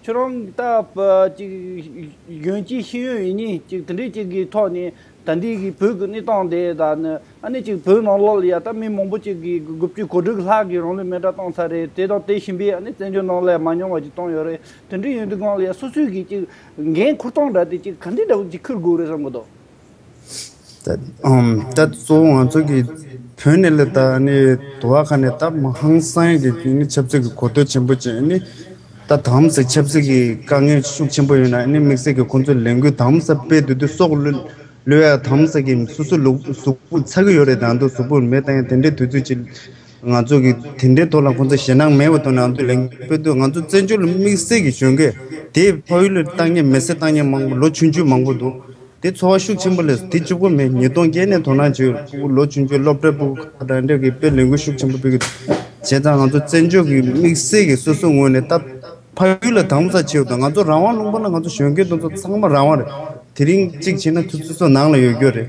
ཁྱོད་རང་ལྟ་བུ་གཅིག་གཞོན་སྐྱེས་ཤེས་ཡོན་ཡིན་ཉིན་ཅིག་དེ་འདྲའི་གཅིག་གི་ཐོག་ནས་ད་ལྟའི་གི་བོད་ཀྱི་གནས་སྟངས་དེ་དག་ནི་ཨ་ནི་ཅིག་བོད་ནང་ལོགས་ལ་ཡ་ད་མི་མང་པོ་ཅིག་གིས་དགུ་བཅུ་གོ་དྲུག་ལྷག་གིས་རང་ལུས་མེ་དགྲ་བཏང་ཚར་རེད་དེ་དང་དེ་བཞིན་པའི་ཨ་ནི་བཙན་བྱོལ་ནང་ལ་མ་མྱོང་བ་ཅིག་བཏང་ཡོད་རེད་དེ་འདྲའི་ཡུན་དུ་སྒང་ལ་ཡ་སོ་སོས་གིས་ཅིག་འགན་ཁུར་སྟངས་འདྲ་དེ་ཅིག་ག་འདྲའི་འདྲ་བོ་ཅིག་ཁུར་དགོས་རེད་བསམ་གི་འདུག། ད་གཙོ་བོ་ང་ཚོ་གི་བོད་ནས་ལས་དོ་བ་ཁག་ནས་ད་ཧང་སངས་ཀྱི་ཆབ་སྲིད་ཀྱི་གོ་རྟོལ་ཆེན་པོ་བྱས་ནས་ད་དམ་ཟབ་ཆབ་སྲིད་ཀྱི་དཀའ་ངལ་ཤུགས་ཆེན་པོ་ཡོད་ན་དམིགས་བསལ་གྱི་ཁོང་ཚོའི་ལས་འགུལ་དམ་ཟབ་སྤེལ་དུས་དུས་སོག་ལོའི་ལོའི་ཡ་དམ་ཟབ་ཀྱི་སུ་སུ་ལུག་གཟུགས་པོ་ཚ་གི་ཡོད་རེད་ད་དུང་གཟུགས་པོ་མེད་ད་ཡང་དེ་འདྲའི་དུས་ཚོད་ཅིག་ང་ཚོ་གིས་དེ་འདྲའི་ཐོག་ལ་ཁོང་ཚོ་ཞེད་སྣང་མེད་པར་དོ་སྣང་དུ་ལེན་ཕོད་དུས་ང་ཚོ་བཙན་བྱོལ་ལ་དམིགས་བསལ་གྱི་གཞོན་སྐྱེས་དེས་ཕ་ཡུལ་ལ་བཏང་སྙེམས་མི་སེར་བཏང་སྙེམས་མང་པོ་ལོ་ཆུང་ཆུང་མང་པོ་འདུག་དེ་ཚོ་བ་ཤུགས་ཆེན་པོ་ལས་དེ་ཅུ་གོ་མེད་ཉིས་སྟོང་བརྒྱད་ནས་དོ་སྣང་བྱེད་ཡོད་པ་ལོ་ཆུང་ཆུང་སློབ་གྲྭའི་པུའུ་ཁག་དང་འབྲེལ་གྱིས་དཔེ་ལེན་ཁུལ་ཤུགས་ཆེན་པོ་སྤེལ་གྱི་འདུག་བྱས་ཙང་ང་ཚོ་བཙན་བྱོལ་གྱི་དམིགས་བསལ་གྱི་སོ་སོའི་ངོས་ནས་ད་ཕ་ཡུལ་ལ་དྭངས་མོ་ཚ་ཆེ་འོད་དང་ང་ཚོ་རང་དབང་ལུང་པ་ན་ང་ཚོ་གཞོན་སྐྱེས་དེ་ཚོ་ཚང་མ་རང་དབང་རེད་དེ་རིང་གཅིག་བྱས་ན་ཚོད་ཚོད་ཚོད་ནང་ལ་ཡོད་རྒྱུ་རེད་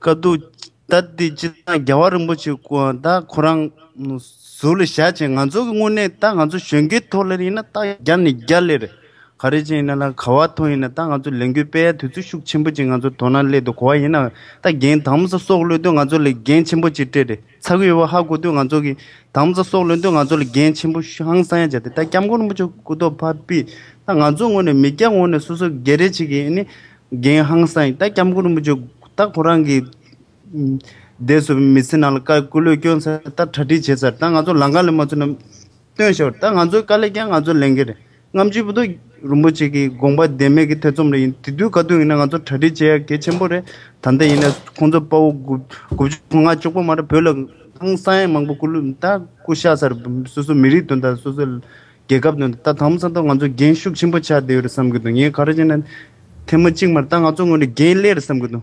བཀའ་སྡོད། ད་ལྟའི་སྤྱིར་བཏང་རྒྱལ་བ་རིན་པོ་ཆེ་ད་ཁོ་རང་ཟུར་ལ་བཞག་ཅིང་ང་ཚོ་གི་དངོས་གནས་ད་ང་ཚོ་གཞོན་སྐྱེས་ཐོག་ལ་ཡིན་ན་ད་བརྒྱ་ནས་བརྒྱ་ལེར་ག་རེ་ཅན་ཡིན་ན་ལ་ག་བ་ཐོག་ཡིན་ན་ད་ང་ཚོ་ལས་འགུལ་སྤེལ་ཡ་དུས་ཚོད་ཤུགས་ཆེན་པོ་ཅིག་ང་ཚོ་དོ་སྣང་སླད་དུ་གོ་བ་ཡིན་ན་ད་འགན་དམ་ས་སྲོག་བློས་ཏུ་ང་ཚོ་ལས་འགན་ཆེན་པོ་ཅིག་སྤྲད་རེད། ཚ་ཁུལ་ཡུལ་བ་ཧ་སྐུ་སྟོད་ང་ཚོ་གི་དམ་བཅའ་སོགས་ལོན་དུས་ང་ཚོ་ལ་འགན་ཆེན་པོ་ཧང་སང་ཡང་བྱ་སྟེ་ད་སྐྱབས་མགོན་རིན་པོ་ཆེ་སྐུ་ཐོག་ཕ་བི་ད་ང་ཚོ་ངོས་ནས་མི་སྐྱ་ངོས་ནས་སོ་སོ་སྒེར་རེ་བྱེད་ཀྱི་ནི་འགན་ཧང་སང་ཡིན་ད་སྐྱབས་མགོན་རིན་པོ་ཆེ་ད་ཁོ་རང་གི་འདས་སོ་བའི་མི་ཚེ་ནང་ལ་བཀའ་སྐུ་ལོས་སྐྱོན་ཚར་ད་གྲ་སྒྲིག་བྱས་ཚར་ད་ང་ཚོ་ལང་ཀ་ལས་མ་ཚུགས་ན་སྟོན་ཤོར་ད་ང་ཚོའི་བཀའ་ལས་ཀྱང་ང་ཚོ་ལེན་གི་རེད། རྔམ་བརྗིད་པོ་ཏོ་རིན་པོ་ཆེ་གི་དགོངས་པ་བདེན་མེད་ཀྱི་ཐེ་ཚོམ་རེ་ཡིན་དེ་དུས་ག་དུས་ཡིན་ན་ང་ཚོ་གྲ་སྒྲིག་བྱེད་ཡ་གལ་ཆེན་པོ་རེད་ད་ལྟ་ཡིན་ན་ཁོང་ཚོ་དཔའ་བོ་དགུ་དགུ་བཅུ་དགུ་ང་བཅུ་པོ་མ་རེད་བོད་ལ་ཨང་གསང་ཡང་མང་པོ་སྐུ་ལུས་ད་སྐུ་ཤ་སར་སོ་སོ་མི་རིགས་དོན་དང་སོ་སོ་རྒྱལ་ཁབ་དོན་ད་དང་པོ་ས་ཐོག་ང་ཚོ་འགན་ཤུགས་ཆེན་པོ་ཆགས་བསྡད་ཡོད་རེད་བསམ་གྱི་འདུག་ངས་ག་རེ་བྱས་ན་ཐལ་མོ་གཅིག་མ་རེད་ད་ང་ཚོ་ངོས་ནས་འགན་ལེ་རེད་བསམ་གྱི་འདུག།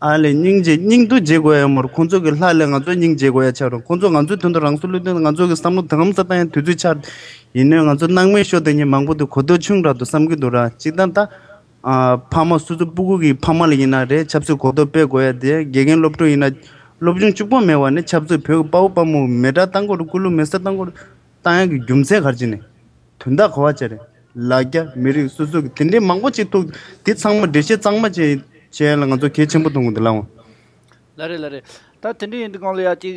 ཨ་ལས་སྙིང་རྗེ་སྙིང་རྡུལ་འཇལ་དགོས་ཡ་མོར་ཁོང་ཚོ་གི་ལྷ་ལས་ང་ཚོ་སྙིང་འཇལ་དགོས་ཡ་ཆགས་རུང་ཁོང་ཚོ་ང་ཚོའི་དོན་དུ་རང་སྲོག་བློས་གཏོང་ང་ཚོ་གི་བསམ་བློ་དོན་དམ་ས་ཏང་ཡང་དུས་ཚོད་ཆགས་ཡིན་ནོད་ང་ཚོ་སྣང་མེད་ཤོག་དེ་ཉིན་མང་པོ་དུ་གོ་ཐོས་ཆུང་རག་ཏུ་བསམ་གི་འདུག་ར་གཅིག་ད་ལྟ་ཕ་མ་སོ་སོ་པུ་གུ་གི་ཕ་མ་ལ་ཡིན་ན་རེད་ཆབ་སྲིད་གོ་རྟོགས་སྤེལ་དགོས་ཡ་དེ་དགེ་རྒན་སློབ་ཕྲུག་ཡིན་ན་སློབ་སྦྱོང་བཅུ་པོ་མེད་བ་ནི་ཆབ་སྲིད་བོད་ཀི་དཔའ་བོ་དཔའ་མོ་མེད་དགྲ་ལྟ་མགོ་རུ་བཀུར་ལུགས་མེད་ས་ལྟ་མགོ་རུ་ལྟ་ཡང་གི་རྒྱུ་མཚན་གར་ཅི་ནས། དོན་དག་གོ་བ་བཅས་རེད། ལ་རྒྱ་མི་རིགས་སོ་སོ་གི་དེ་འདྲའི་མང་པོ་ཅིག་འདུག་དེ་ཚང་མ་འགྲེལ་བཤད་གཙང་མ་བྱས་བྱས་ལ་ང་ཚོ་གལ་ཆེན་པོ་མཐོང་གི་འདུག་ལའང། ལ་རེད་ལ་རེད། ད་དེ་འདྲས་ཡིན་དུས་གང་ལ་ཡ་གཅིག་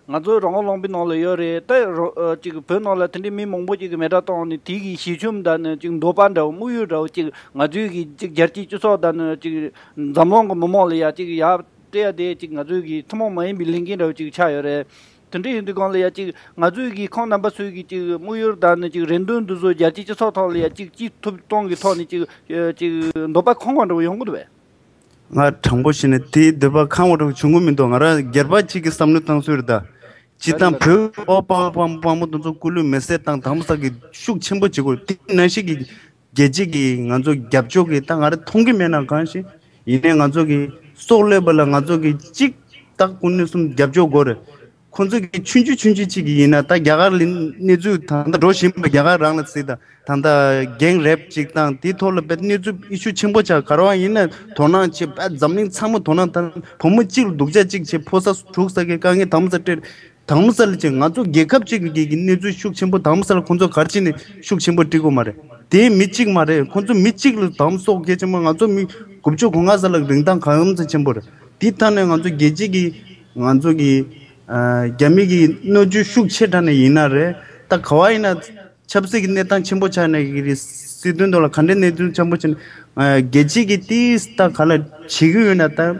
ང་ཚོ་རང་དབང་ལུང་པའི་ནང་ལ་ཡོད་རེད་ད་རོ་གཅིག་བོད་ནང་ལ་དེ་འདྲས་མི་མང་པོ་ཅིག་གི་མེ་དྲ་བཏང་ནས་དེ་གི་ཞི་ཆོམ་དང་ནི་གཅིག་འདོད་པ་འདྲ་བོ་དམུགས་ཡུལ་འདྲ་བོ་གཅིག་ང་ཚོའི་གི་གཅིག་རྒྱལ་སྤྱིའི་སྤྱི་ཚོགས་དང་ནི་གཅིག་འཛམ་གླིང་གི་མི་མང་ལ་ཡ་གཅིག་ཡ་སྤྲད་ཡ་དེ་གཅིག་ང་ཚོའི་གི་ཐུན་མོང་མ་ཡིན་པའི་ལས་འགན་འདྲ་བོ་ཅིག་ཆགས་ཡོད་རེད། དེ་འདྲ་ཡིན་དུས་གང་ལ་ཡང་ཅིག་ང་ཚོས་ཀྱིས་ཁོང་རྣམ་པ་ཚོས་ཀྱིས་ཅིག་དམིགས་ཡུལ་དང་ནི་ཅིག་རེ་འདུན་འདི་ཚོ་རྒྱལ་སྤྱིའི་སྤྱི་ཚོགས་ཐོག་ལ་ཡང་ཅིག་ཅི་ཐུབ་གཏོང་གི་ཐོག་ནས་ཅིག་ཅིག་འདོད་པ་ཁང་བ་འདྲ་བོ་ཡོང་གི་འདུག་བས། ང་དྲང་པོ་བཤད་ན་དེའི་འདོད་པ་ཁང་བ་འདྲ་བོ་བྱུང་གི་མི་འདུག་ང་རང་སྒེར་པ་གཅིག་གི་བསམ་བློའི་སྟངས་ཚུལ་རེད། སྤྱིར་བཏང་བོད་དབུས་དབར་དཔའ་བོ་དཔའ་མོ་དེ་ཚོ་སྐུ་ལུས་མེར་བསྲེགས་བཏང་དང་པོ་ས་ཀྱི་ཤུགས་ཆེན་པོ་བྱེད་དགོས་དེ་ནང་བཞིན་གྱི་རྒྱལ་སྤྱི་གིས་ང་ཚོ་རྒྱབ་སྐྱོར་གི་ད་ང་ར་མཐོང་གི་མེད་ན་གང་ཞིག་ཡིན་ནའི་ང་ཚོ་གི་སྲོག་བློས་པ་ལ་ང་ཚོ་གི་གཅིག་ད་སྐུ་སྣོད་གསུམ་རྒྱབ་སྐྱོར་དགོས་རེད་ཁོང་ཚོ་གི་ཆུན་ཆུ་ཆུན་ཆུ་ཅིག་གི་ཡིན་ན་ད་རྒྱ་གར་ལི་གནས་ཚུལ་ད་ལྟ་འགྲོ་བཞིན་པ་རྒྱ་གར་རང་ལ་ཟིག་ད་ད་ད་རྒྱེང་རེབ་ཅིག་དང་དེ་ཐོག་ལ་པའི་གནས་ཚུལ་ཨི་ཤུ་ཆེན་པོ་ཆགས་ག་རང་ཡིན་ནའི་དོ་སྣང་བྱེད་པའི་འཛམ་གླིང་ཚང་མ་དོ་སྣང་དང་བུ་མོ་གཅིག་ལ་སྡུག་ཅག་ཅིག་བྱེད་ཕོ་ས་དྲུག་ས་གི་དཀའ་ངལ་དམ་ས་སྤྲེལ་དྭངས་མོ་གསལ་ལ་ཅིག་ང་ཚོ་རྒྱལ་ཁབ་ཅིག་གི་གི་གནས་ཚུལ་ཤུགས་ཆེན་པོ་དྭངས་མོ་གསལ་ལ་ཁོང་ཚོ་གར་ཅིག་ནས་ཤུགས་ཆེན་པོ་བཀྲི་གོ་མ་རེད་དེའི་མི་གཅིག་མ་རེད་ཁོང་ཚོ་མི་གཅིག་ལ་དྭངས་མོ་གསོག་གལ་ཆེན་པོ་ང་ཚོ་མི་དགུ་བཅུ་གོ་ང་གསལ་ལ་རིན་ཐང་གང་ཚ་ཆེན་པོ་རེད་དེ་ཐ་ན་ང་ཚོ་རྒྱལ་སྤྱི་གི་ང་ཚོ་གི་རྒྱ་མི་གི་གནོད་སྐྱོན་ཤུགས་ཆེ་དྲག་ནས་ཡིན་ན་རེད་ད་ག་བ་ཡིན་ན་ཆབ་སྲིད་གི་གནས་སྟངས་ཆེན་པོ་ཆགས་ནས་གི་རི་སྲིད་དོན་དོ་ལ་ག་འདྲའི་གནས་ཚུལ་ཆེན་པོ་ཆེ་ནས་རྒྱལ་སྤྱི་གི་དེའི་ལྟ་ག་ལ་བྱེད་གི་ཡོད་ན་ད།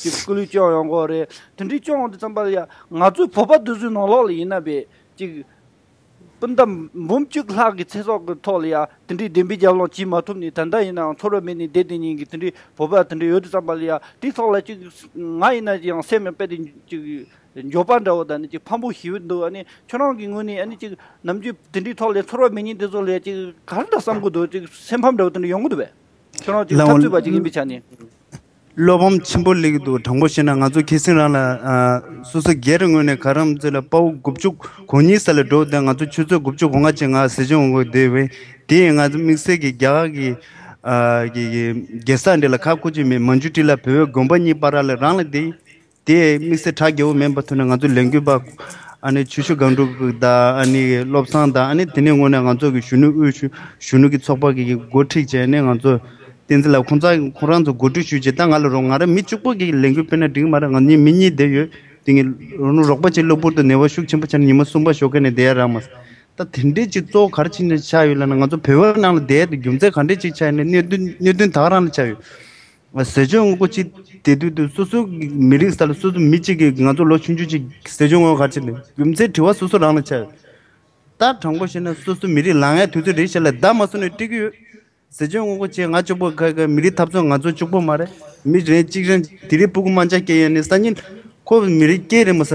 ཀྱི་སྐུ་ལུས་སྐྱོང་ཡོང་དགོས་རེད། དེ་འདྲའི་སྐྱོང་འོང་དུས་ཙམ་པར་ཡང་ང་ཚོའི་བོད་པ་དེ་ཚོའི་ནང་ལོགས་ལ་ཡིན་ན་བས་ཀྱི། སྤུན་ཟླ་འབུམ་བཅུ་ལྷག་གི་ཚེ་སྲོག་གི་ཐོག་ལ་ཡང་དེ་འདྲའི་བདེན་པའི་རྒྱབ་ལངས་བྱེད་མ་ཐུབ་ནས་ད་ལྟ་ཡིན་ནའང་ཚོར་བ་མེད་ནས་བསྡད་དེ་ཉིན་གྱི་དེ་འདྲའི་བོད་པ་དེ་འདྲ་ཡོད་དུས་ཙམ་པར་ཡང་དེའི་ཐོག་ལ་ཅིག་ང་ཡིན་ན་ཡང་སེམས་ཡང་དཔེ་དེ་ཅིག་འགྱོད་པ་འདྲ་བོ་དང་ནི་ཅིག་ཕམ་པོ་ཞི་བོ་འདུག་ཨ་ནི་ཁྱོད་རང་གི་ངོས་ནས་ཨ་ནི་ཅིག་ནམ་རྒྱུན་དེ་འདྲའི་ཐོག་ལ་ཡང་ཚོར་བ་མེད་ཉིན་དེ་ཚོ་ལ་ཡང་ཅིག་ག་རེ་འདྲ་བསམ་དགོས་འདུག་ཅིག་སེམས་ཕམ་འདྲ་བོ་དེ་འདྲ་ཡོང་གི་འདུག་བས། ཁྱོད་རང་ཅིག་འཐབ་རྩོད་པ་ཅིག་ཡིན་པའི་ཆ་ནས། བློ་ཕམ་ཆེན་པོ་གླེང་གི་འདུག་དྲང་པོ་བཤད་ན་ང་ཚོ་ཁྱི་སེང་རང་ལ་སོ་སོ་སྒེར་རེ་ངོས་ནས་ག་རམ་ཚོད་ལ་དཔའ་བོ་དགུ་བཅུ་གོ་གཉིས་ས་ལ་འགྲོ་དེ་ང་ཚོ་ཆུ་ཚོད་དགུ་བཅུ་གོ་ལྔ་ཕྱེད་ང་ཟི་ཆུ་འོང་དགོས་དེ་བས་དེ་ཡིན་ང་ཚོ་དམིགས་བསལ་གྱི་རྒྱ་གར་གྱི་གེ་སར་འདི་ལ་ཁག་ཁུར་གྱི་མེད་མ་འཇུ་དྲི་ལ་བོད་བོད་དགོན་པ་གཉིས་པ་ར་ལ་རང་ལ་དེ་དེས་དམིགས་བསལ་དྲ་རྒྱ་བོ་མེད་པ་ཐོན་ནས་ང་ཚོའི་ལས་འགུལ་པ། ཨ་ནི་ཆོས་ཞུ་སྒང་དྲུག་དང་ཨ་ནི་བློ་བཟང་དང་ཨ་ནི་དེ་ནས་སྔོན་ནས་ང་ཚོ་གི་གཞོན་ནུ་དབུས་གཞོན་ནུ་གི་ཚོགས་པ་གི་གི་འགོ་ཁྲིད་བྱས་ནས་ང་ཚོ། བསྟན་འཛིན་ལགས་ཁོང་ཚ་ཁོང་རང་ཚོ་གོ་སྒྲིག་ཞུས་རྗེས་ད་ང་ལ་རོགས་ང་རང་མི་གཅུག་པོ་གི་ལས་འགུལ་སྤེལ་ན་འགྲིག་མ་རེད་ང་ཉིད་མི་གཉིས་བསྡད་ཡོད་དེ་ངི་རོགས་པ་བྱེད་གློ་བུར་དུ་ནད་བ་ཤུགས་ཆེན་པོ་ཆགས་ནས་ཉི་མ་གསུམ་པ་ཞོགས་ཁ་ནས་བསྡད་ཡ་རང་མ་ཟད་ད་དེ་འདྲས་ཅིག་གཙོ་བོ་ག་རེ་ཕྱིན་ནས་ཆགས་ཡོད་ལ་ན་ང་ཚོ་བོད་པ་ནང་ལ་བསྡད་དེ་རྒྱུ་མཚན་ག་འདྲས་ཅིག་ཆགས་ནས་གནད་དོན་ག་རང་ལ་ཆགས་ཡོད། ཟས་སྤྱོད་དངོས་པོ་གཅིག་དེ་དུས་དུས་སོ་སོའི་མི་རིགས་ས་ལ་སོ་སོའི་མི་གཅིག་གིས་ང་ཚོ་ལོ་ཆུང་ཆུང་ཞིག་གི་ཟས་སྤྱོད་དངོས་ག་ཆེ་ནས་རྒྱུ་མཚན་དྲི་བ་སོ་སོ་རང་ལ་བྱས། ད་དྲང་པོ་བཤད་ན་སོ་སོའི་མི་རིགས་ལ་ངས་དུས་ཚོད་རེ་བཞི་ལ་བདག་མ་བཟུང་ནས་སྤྲད་ཀྱི་ཡོད། ཟས་སྤྱོད་དངོས་པོ་བཅས་ང་ལྕོགས་པོ་ག་གི་མི་རིགས་འཐབ་རྩོད་ང་ཚོ་ལྕོགས་པོ་མ་རེད་མི་རེ་གཅིག་རང་དེ་རིང་སྤུ་གུ་རྨ་བྱ་སྐྱེ་ཡས་ནས་ས་ཉིན་ཁོ་མི་རིགས་སྐྱེས་རེ་མ་ཟ།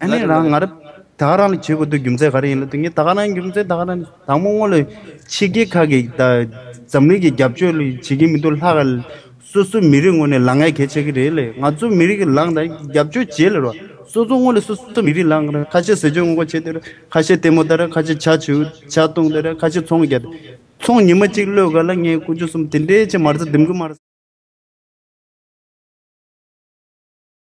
ཨ་ནེ་རང་ངར། ད་ག་རང་ལ་བྱེད་དགོས་འདོད་རྒྱུ་མཚན་ག་རེ་ཡིན་ལབ་དུས་ངས་ད་ག་རང་གི་རྒྱུ་མཚན་ད་ག་རང་དང་མོ་སྔོན་ལ་ཕྱི་རྒྱལ་ཁག་གི་འཛམ་གླིང་གི་རྒྱབ་སྐྱོར་བྱེད་ཀྱི་མི་འདུག་ལྷ་ག་སོ་སོའི་མི་རིགས་ངོས་ནས་ལ་ངའི་གལ་ཆེ་གི་རེད་ལས་ང་ཚོའི་མི་རིགས་ལ་ང་རྒྱབ་སྐྱོར་བྱེད་ལེ་རོ་སོ་སོ་ངོས་ལ་སོ་སོའི་མི་རིགས་ལ་ང་རང་ཁ་ཆེ་ཟེར་སྐྱོན་ངོ་རྒོལ་བྱེད་འདོད་རེད་ཁ་ཆེ་ལྟད་མོ་ལྟ་རེད་ཁ་ཆེ་བྱ་བྱེའུ་བྱ་བཏུང་ལྟ་རེད་ཁ་ཆེ་ཚོང་རྒྱག་ཚོང་ཉི་མ་གཅིག་བློས་ག་ལ་ངའི་ཀུ་ཅོ་གསུམ་དེ་འདྲའི་ཆེ་མ་རྩ་ལྡེམ་གི་མ།